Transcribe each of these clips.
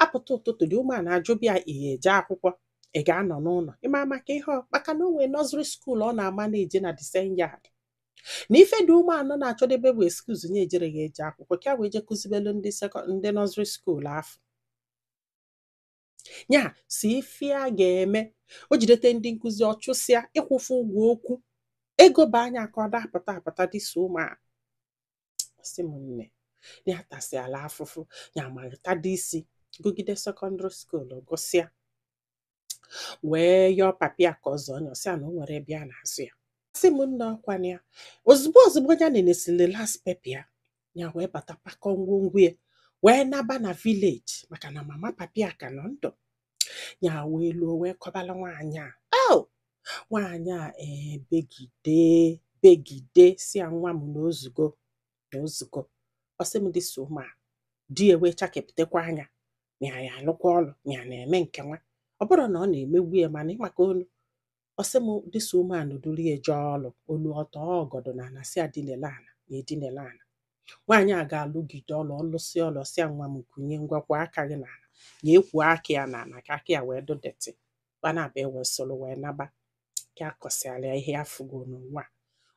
apụta ụtụtụ the woman ajụbịa ya ihe eje akwụkwọ ị ga-anọ n'ụlọ ịma maka ihe maka na o nwee nursery school ọ na-ama na-eje na the same yard na ife the woman na-achọdebe bụ excuse nya ejere ya eje akwụkwọ ka wee je kụzibelu ndị ndị nursery school afụ ya sị ife a ga-eme o jidete ndị nkụzi ọ chụsịa ịkwụfụ ụgwọ okwu ego baa nya aka ọ da-apụta apụta this woman sị m nne ya atasịala afụfụ ya amalitadị isi gụgide secondary school gụsịa wee yọọ papi ya ka ọ zụọ nya ọ sị ya na o nwere ebe ya na-azụ ya ọ sị m nne ọkwa na ya ozugbo ozugbo ya nenesili last paper ya ya wee bata pakọ ngwongwo ya wee naba na village maka na mama papi ya ka nọ ndụ ya wee luo wee kọbala nwaanyị a oh nwaanyị a ee begide begide sị ya nwa m na ozugo na ozugo ọ sị m this woman di ewe chakepụtakwa anya na ya alụkwa ọlụ na ya na-eme nke nwa ọ bụrụ na ọ na-emegbu ya mana ịmaka onu ọ sị m this woman nụ duru ya jee ọlụ o luo ọ tọọ ọgọdọ na ana sị ya dinele ana nya edinele ana nwaanyị a ga-alụgide ọlụ ọ lụsịa ọlụ ọ sị ya nwa m kunie ngwa kwo aka gị na ana ya ekwo aka ya na ana ka aka ya wee dụ dirty fa naabọ ewee soro wee naba ka ya kọsịala ya ihe ya fụgo n'ụwa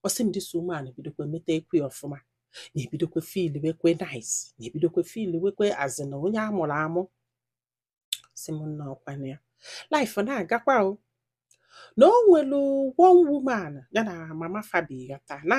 ọ sị m this woman bidokwa metekwe ya ọfụma nya ebidokwa fiiliwekwe nice nya ebidokwa fiiliwekwe as in onye a mụrụ amụ ọ sị m nna ọkwa na ya life na-agakwa o na o nwere one woman ya na mama fa bikọta na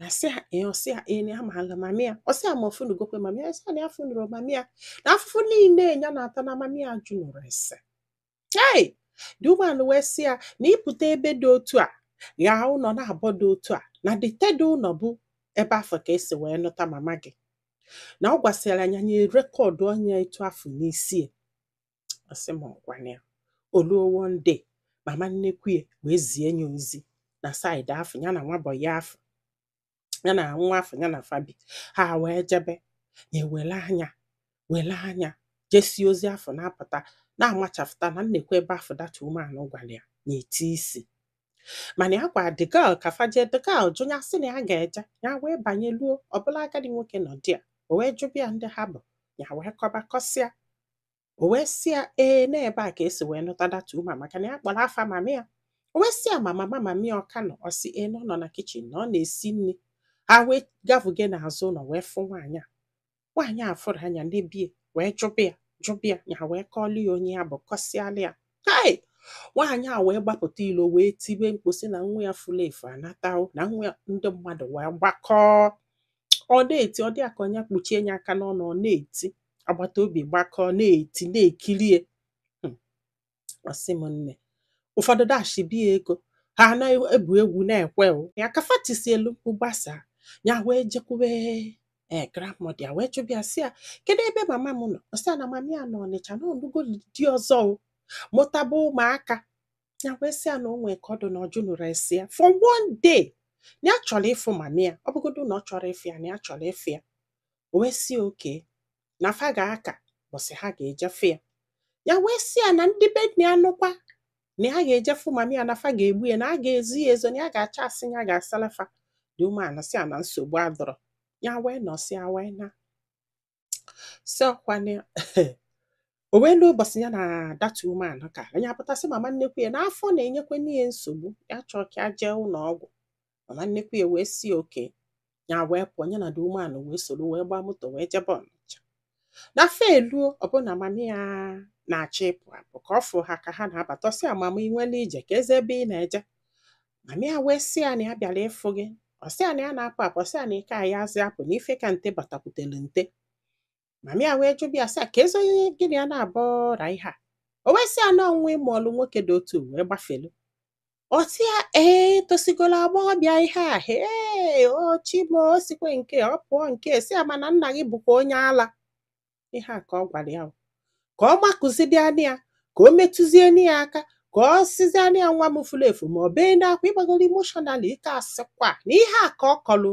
na sị ya ee ọ sị ya ee na ya maala mamị ya ọ sị ya ma ọ fụnugokwe mamị ya ọ sị ya na ya afụnurọ mamị ya na afụfụ niile ya na-ata na mamị ya ajụnurọ ese hey the woman wee sị ya na ị pụta ebe dị otu a ghaa ụlọ naabọ dị otu a na the third ụlọ bụ ebe afụ ka e si wee nụta mama gị na ọ gwasịara nya nya erekọdụọ nya etu afụ n'isi ya ọ sị m ọkwa na ya o luo one day mama nnekwu ya wee zie nya ozi na side afụ ya na nwa boy afụ ya na nwa afụ ya na fa bi ha wee jebe nya ewele anya wele anya jesie ozi afụ na-apụta nya amachapụta na nekwa ebe afụ that woman nụ gwara ya nya eti isi mana ya gwa the girl ka fa je the girl jụ ya sị na ya ga-eje ya wee banye luo ọ bụlụ agadi nwoke nọ there o wee jụbịa ndị ha bụ ya wee kọba kọsịa o wee sị ya ee n'ebe a ka e si wee nụta that woman maka na ya kpọrọ afa mamị ya o wee sị ya ma mama mamị ya ọ ka nọ ọ sị ee na ọ nọ na kitchen na ọ na-esi nri ha wee gavuge n'azụ ụlọ wee fụ nwaanyị a nwaanyị a fụrụ nya nebe ya wee jụba ya jụba ya ya wee kọọlụ ya onye ya bụ kọsịalụ ya hai nwaanyị a wee gbapụta ilo wee tibe mkpu sị na nwa ya furu efu anatawo na nwa ya ndị mmadụ wee gbakọọ ọ na-eti ọ dị ya ka nya kpuchie ya aka n'ọnụ ọ na-eti agbata obi gbakọọ na-eti na-ekiri ya hmm. ọ sị m nne ụfọdụ dashibe ya ego ha na-egwu egwu na-ekwe ya aka fa tisielu mkpu gbasa ya wee jekwube ee grandmother ya wee jụba ya sị ya kedu ebe mama m nọ ọ sị ya na mama ya nọ ọnịcha na ọ nụgo di ọzọ ọ mụtaba ụmụaka ya wee sị ya na o nwee ka ọ dụ na ọ jụnụrọ ese ya for one day na ya chọrọ ịfụ mama ya ọ bụgodu na ọ chọrọ ịfụ ya na ya chọrọ ịfụ ya o wee sị okay na fa ga-aka ụbọsị ha ga-eje fụ ya ya wee sị ya na ndị be nna ya nụkwa na ya ga-eje fụ mama ya na fa ga-egbu ya na a ga-ezo ya ezo na ya ga-achọ asị ya ga-asala fa the woman sị ya na nsogbu adụrọ ya wee nọsịa wee naa sị ọ kwa na o wee lu ụbọsị ya na that woman ka ya apụta sị mama nnekwu ya na afọ na-enyekwanụ ya nsogbu ya chọọ ka ya jee ụnọ ọgwụ mama nnekwu ya wee sị okay ya wee pụọ ya na the woman wee soro wee gbaa moto wee jebe ọnịcha na fa eluo ọ bụ na mama ya na-achọ ịpụ apụ ka ọ fụ ha ka ha na-abata ọ sị ya mama i nwere ije keezi ebe ị na-eje mama ya wee sị ya na ya bịara ịfụ gị ọ sị ya na ya na-apụ apụ ọ sị ya na ị ka ayazị apụ na ife ka nte batakwutere nte mama ya wee jụba ya sị ya keezi onye gị na ya naabọ ra ihe a o wee sị ya na ọ nwa ị mụọlụ nwoke dị otu wee gbafelu ọ sị ya ee tosigolu agbọghọbịa ihe a ee o chimo o sikwa nke ọ pụọ nke sị ya mana nna gị bụkwa onye ala ihe a ka ọ gwara ya ka ọ makụzienụ ya ka o metụzienụ ya aka ka ọ sịzienụ ya nwa m furu efu ma ọ bee n'akwa ịgbagoro emotional ị ka-asịkwa na ihe a ka ọ kọlụ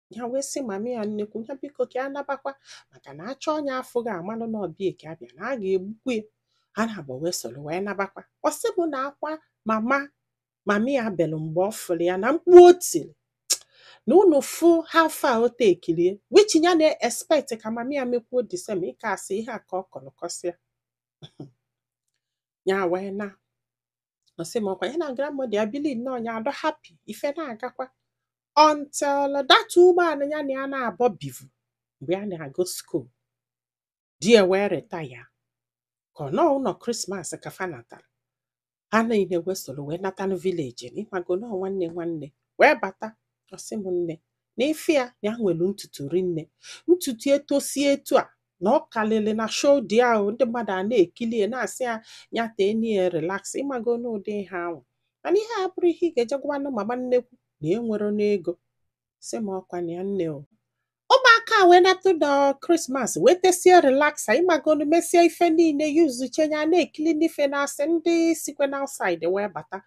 ya wee sị mama ya nnekwu ya biko ka ya nabakwa maka na achọ onye afụ ga-amalụ na ọ bịa ka abịa na a ga-egbukwu ya ha naabọ wee soro wee nabakwa ọ sị m na akwa mama mama ya belụ mgbe ọ fụrụ ya na mkpu o tiri na unu fụ ha fa o tekirie which ya na-expect ka mama ya mekwuo the same ị ka-asị ihe a ka ọ kọlụ kọsịa ya wee naa ọ sị m ọ kwa ya na grandmother ya bili nnọọ ya adọ happy ife na-agakwa until that woman ya na ya naabọ bivu mgbe ya na-agụ school di ya wee retire ka ọ nọọ ụnọ christmas ka fa natara ha niile wee soro wee natanụ village ịmagonu nwanne nwanne wee bata ọ sị m nne na ife a na ya nwere ntutu rinne ntutu etosie etu a na ọ kalịrị na shoulder ya ndị mmadụ a na-ekili ya na-asị ya ya teenụ ya relaxer ịmago n'ụdị ihe ahụ mana ihe a abụrọ ihe ị ga-eje gwanụ mama nnekwu na-enwerọnụ ego sị m ọ kwa na ya nne o ụmụaka wee nata ụnọ christmas wee tesie relaxer ịmagonu mesie ife niile yuzuche ya na-ekilinụ fa na-asị ndị sikwa na outside wee bata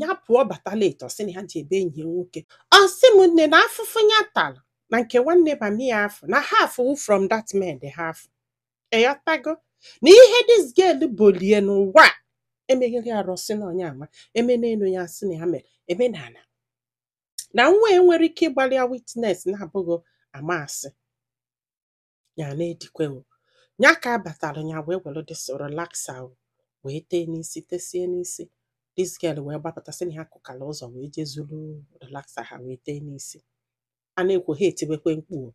ya pụọ bata late ọ sị na ya ji ebe enyi ya nwoke ọ sị m nne na afụfụ ya tara na nke nwanne mami ya afụ na half wu from that man dị half ị yọtago na ihe this girl bolie n'ụwa a, emeghịrị arụ sị na onye ama eme n'elu ya sị na ya mere eme na ala na mụwa nwere ike ịgbalị ya witness na-abụghị ama asị ya na-edikwe o ya ka a batara ya wee were this relaxer wee tee n'isi tesie n'isi this girl wee gbapụta sị na ya kụkara ụzọ wee jee zuru relaxer ha wee tee n'isi a na-ekwo ha etiwekwe mkpu o